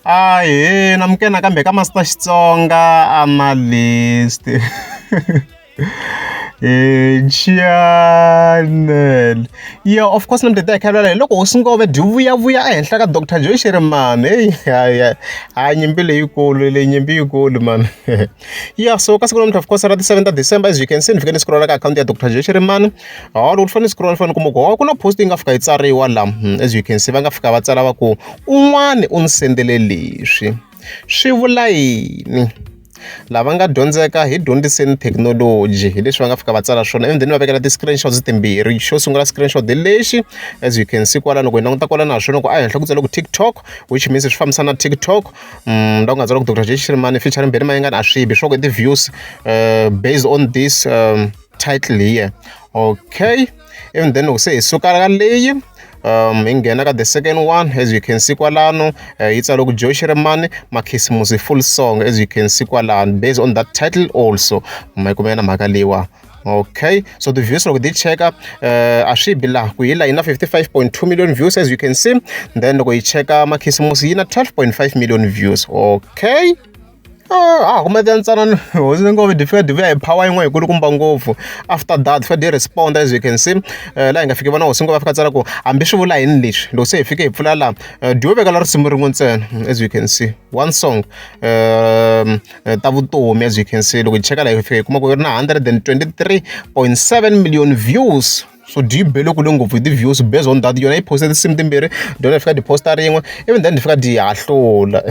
Hi, hi namukela nakambe ka Master Xitsonga Analyst. Channel. Yeah, of course nambe ta khalela hi loko hosi Ngove byi vuya vuya ehenhla ka Dr. Joy Shirimani. Hey, ha nyimpi leyikulu, leyi nyimpi yikulu man. Ya so ka siku namuntlha of course ra ti-seven ta December as you can see ni fike ni scroll-a ka akhawunti ya Doctor Xirimani hawu loko ni fanele ni scroll-a ni fanele ni kuma ku hawu ku na post yi nga fika yi tsariwa la hmm, as you can see va nga fika va tsala va ku un'wani u ni sendele leswi swi vula yini lava nga dyondzeka hi dyondziseni thekinoloji hi leswi va nga fika va tsala swona ivi then va vekela ti-screenshots timbirhi xo sungula screenshot lexi as you can see kwala loko hi languta kwala na swona ku a henhla ku tsala ku tiktok which means swi fambisa na tiktok nda ku nga tsala ku doctor J Shirimani featuring Benny Mayengani a swi bi swa ku i ti-views uh, based on this um, title here okay even then loko se hi suka ka leyi um hi nghena ka the second one as you can see kwalano uh, yi tsale ku J Shirimani makhisimusi full song as you can see kwalano based on that title also ma yi kumela mhaka leyiwa okay so the views loko ti cheka eh, a swi bi laha ku yi la yi na 55.2 million views as you can see then loko yi cheka makhisimusi yi na 12.5 million views okay ah kuma ti ntsanana hosi ni ngo difika divi ya hi power yin'wana yikulukumba ngopfu after that fika di respond as you can see eh, laha hi nga fiki vona hosi ngo va fika tsala ku hambi swi vula yini leswi loko se hi fike hi pfula laha eh, diyo veka la risimu rin'we ntsena as you can see one song um, ta vutomi as you can see loko hi cheka la hi fika hi kuma ku yi ri na 123.7 million views so do you be loko le ngopfu hi ti-views based on that yona yi poste tinsimu timbirhi dyona hi fika ti-posta rin'we even then hi fika di hahlula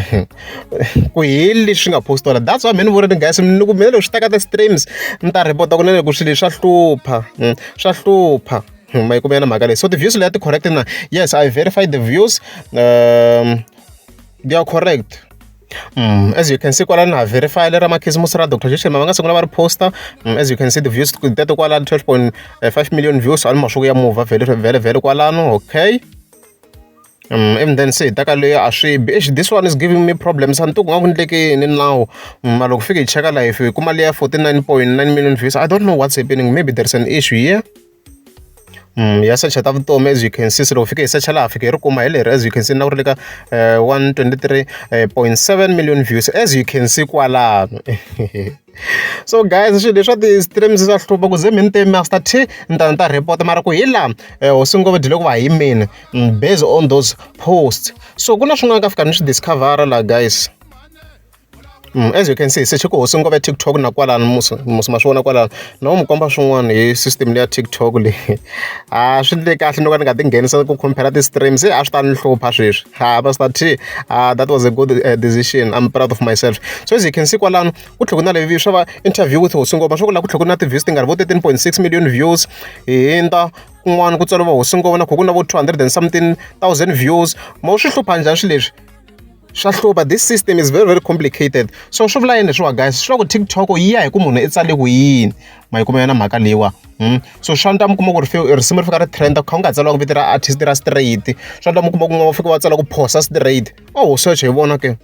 ku heli leswi nga postola that's why mheni vureni guys ni ku mina loko swi teka ti-streams ni ta repota ku na loko swilo swa hlupha hmm, swa hlupha hmm, ma yi kumela na mhaka leyi so ti-views leya ti-correct na yes i verified the views um they are correct as you can see kwalano ha verify lera makhisimusi ra doctor joshema va nga sungula va ri poster mm, as you can see the views teto kwalano 12.5 million views ali masiku ya muva vhele vhele vhele kwalano okay um even then se hi taka leyi a swi bi exi this one is giving me problems a ni tiku nga ku ndleke yini nawu mm, ma loko fike hi cheka life hi kuma leya 49.9 million views i don't know what's happening maybe there's an issue here ya secha ta vutomi as you can see se loko fike hi secha laha fike hi ri kuma hi leri as you can see na ku ri le ka one twenty three point seven million views as you can see kwalano so guys swilo leswa ti-streams swa hlupha ku ze mi ni te master t ni ta ni ta report mara ku hi laha eh, hosi ngo va dyile ku va hi mina mm, based on those posts so ku na swin'wana ka fika ni swi discovera laha guys As you can see se chiko hosi ngopfu ya TikTok na kwalano musi musi ma swi vona kwalano na n'wi komba swin'wana hi system leya TikTok leyi a swi le kahle no ka ni nga ti nghenisa ku compare ti-stream se a swi ta ni hlupha sweswi ha va swi ta a that was a good eh, decision I'm proud of myself so as you can see kwalano ku tlhela ku na levi swa va interview with hosi ngopfu swa ku laha ku tlhela ku na ti-views ti nga ri vo 13.6 million views hi hindza kun'wana ku tswala va hosi ngopfu na kho ku na vo 200 and something thousand views ma swi hlupha njhani swi leswi swa hlupha this system is very very complicated so swi vula yini leswiwa guys swi vula ku tiktok yi ya hi ku munhu i tsale ku yini ma yi kuma yona mhaka leyiwa hmm? so swa nta mi kuma ku ri risimu ri fika ri trenda kha u nga tsaliwa ku vito ra artist ra straight swa nta mi kuma ku nga fika wa tsala ku phosa straight o oh, search hi vona ke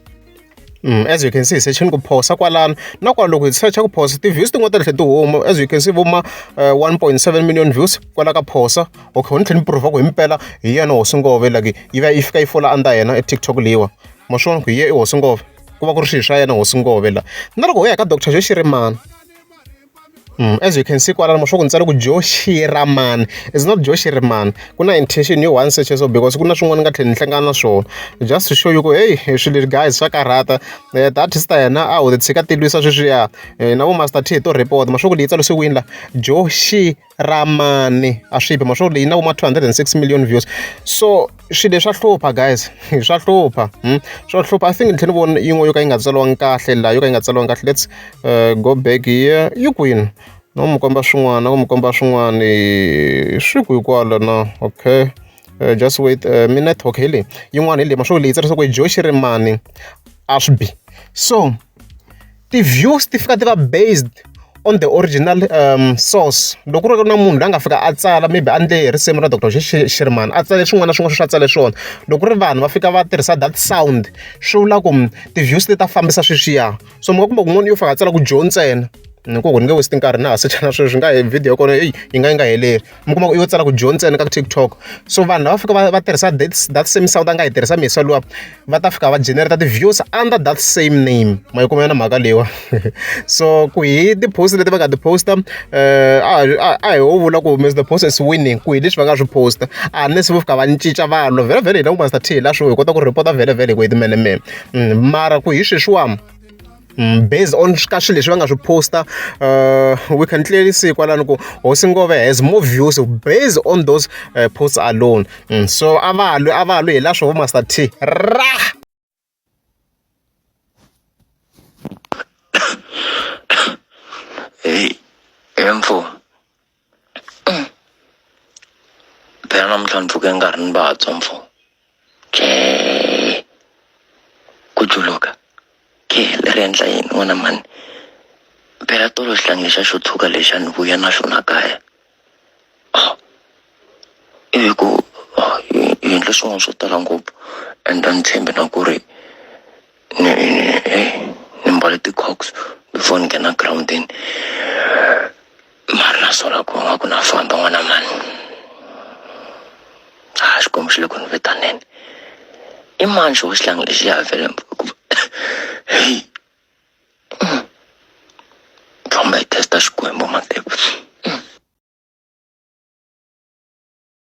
Mm, as you can see sechini ku phosa kwalano na kwala loko hi searcha ku phosa ti-views tin'wana ta tlhe ti huma as you can see vuma uh, eh, 1.7 million views kwala ka phosa okay ni tlhela ni prove ku himpela hi yena hosi ngove like yi va yi fika yi fola under yena e tiktok leyiwa ma swona ku hi ye i hosi ngove ku va ku ri swilo swa yena hosi ngove la na loko u ya ka doctor xo xirimana Mm, as you can see kwalana mashoku ni tsale ku joe shiraman is not joe shiraman ku na intention yo one search so because ku na swin'wana ni nga tlhela ni hlangana na swona just to show you ku hey swilo guys swa karhata Eh, that is ta yena a ho tshika tilwisa sweswiya Eh, na vo master t hi to report mashoku leyi tsalisiwini la joe shi ra mani a swi phi ma swo leyi na vo ma two hundred and six million views so swilo leswa hlupha guys swa hlupha hmm? swa hlupha i think ni tlhela ni vona yin'we yo ka yi nga tsaliwangi kahle laha yo ka yi nga tsaliwangi kahle let's uh, go back here yi kwini no mi komba swin'wana ku mi komba swin'wana swi ku hikwalo na okay uh, just wait uh, mi network hi leyi yin'wana hi leyi ma swo leyi tsarisa ku hi joe xirimani a swi bi so ti-views ti fika ti va based on the original um, source loko ku ri na munhu la nga fika a tsala maybe a ndle hi risimu ra dr shirman a tsale swin'wana na swin'wana swi a tsale swona loko ku ri vanhu va fika va tirhisa that sound swi vula ku mm, ti-views ti ta fambisa sweswiya so mi nga kumbe kun'wana yo fika a tsala ku dyo ntsena ni ku ku ni nge westi nkarhi na ha sechana sweswi nga video ya kona eyi yi nga yi nga heleli mi kuma ku i yo tsala ku dyo ntsena ka TikTok so vanhu lava fika va va tirhisa that that same sound a nga yi tirhisa mesa luwa va ta fika va generate ti-views under that same name ma yi kuma yona mhaka leyiwa so ku hi ti-post leti va nga ti-posta eh, a a hi wo vula ku mr post is winning ku hi leswi va nga swi posta unless vo fika va ni cinca vanhu vhele vhele hi languta star t hi la swo hi kota ku rhipota vhele vhele hi ku hi timenemene mm, mara ku hi sweswiwani Mm, based on ka swilo leswi va nga swi posta uh, we can clearly see kwalani ku hosi ngove has more views based on those uh, posts alone mm, so a va lwi a va lwi hi la swo vo master t ra hey emfo phela namuhla ndvuke ngarhi ni batso mfo jee ku juluka ke le ri endla yini n'wana mani phela tolo xihlangi lexa xo tshuka lexa ni vuya na xona kaya oh. ivi ku oh, yendle swin'wana swo tala ngopfu and a ni tshembi na ku ri ni mbale ti-cox before ni nghena groundini mani na sola ku nga ku na famba n'wana mani a ah, xikwembu xi le ku ni vitaneni i mani xo xilangi lexi ya vele heyi famba yi testa xikwembu mateko